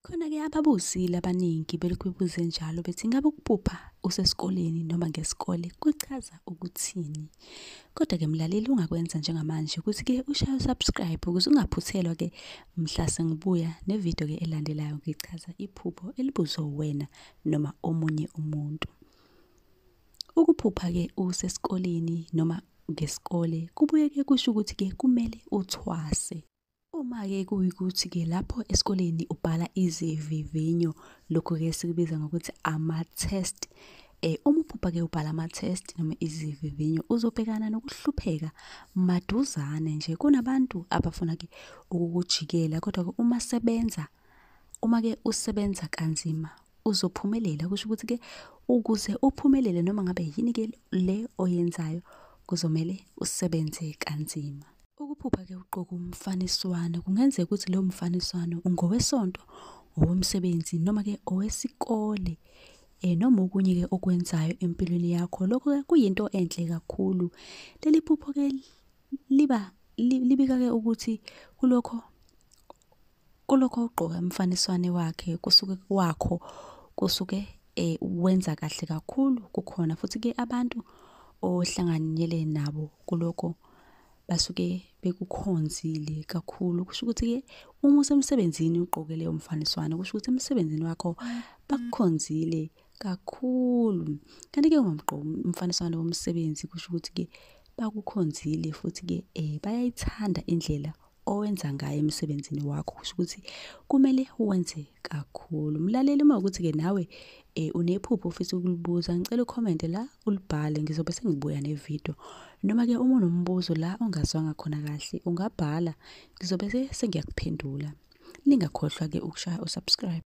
Khona-ke ababuzile abaningi belokhu bebuze njalo bethi ingabe ukuphupha usesikoleni noma ngesikole kuchaza ukuthini. Kodwa-ke mlaleli ungakwenza njengamanje ukuthi-ke ushaye usubscribe ukuze ungaphuthelwa-ke mhla sengibuya nevidiyo-ke elandelayo ngichaza iphupho elibuzwe wena noma omunye umuntu. Ukuphupha-ke usesikoleni noma ngesikole kubuye-ke kusho ukuthi-ke kumele uthwase. Uma-ke kuyikuthi-ke lapho esikoleni ubhala izivivinyo, lokhu-ke sikubiza ngokuthi ama-test. Eh, uma uphupha-ke ubhala ama-test noma izivivinyo, uzobhekana nokuhlupheka maduzane nje. Kunabantu abafuna-ke ukukujikela, kodwa-ke uma sebenza, uma-ke usebenza kanzima, uzophumelela. Kusho ukuthi-ke ukuze uphumelele noma ngabe yini-ke le oyenzayo, kuzomele usebenze kanzima. Ukuphupha-ke ugqoke umfaniswano kungenzeka ukuthi lowo mfaniswano ungowesonto, owomsebenzi noma-ke owesikole um noma okunye-ke okwenzayo empilweni yakho. Lokho-ke kuyinto enhle kakhulu. Leli phupho-ke liba libika-ke ukuthi kulokho kulokho ugqoka umfaniswane wakhe kusuke kwakho kusuke eh, wenza kahle kakhulu kukhona futhi ke abantu ohlanganyele nabo kulokho basuke bekukhonzile kakhulu kusho ukuthi ke uma usemsebenzini ugqoke leyo mfaniswano kusho ukuthi emsebenzini wakho bakukhonzile kakhulu kanti ke ungumgqoki umfaniswano womsebenzi kusho ukuthi ke bakukhonzile futhi ke eh bayayithanda indlela owenza ngayo emsebenzini wakho kusho ukuthi kumele wenze kakhulu mlaleli uma ukuthi-ke nawe um unephupho ofisa ukulibuza ngicela ukhomente la ulibhale ngizobe sengibuya nevidiyo noma-ke uma unombuzo la ongazwanga khona kahle ungabhala ngizobe sengiyakuphendula ningakhohlwa-ke ukushaya usubscribe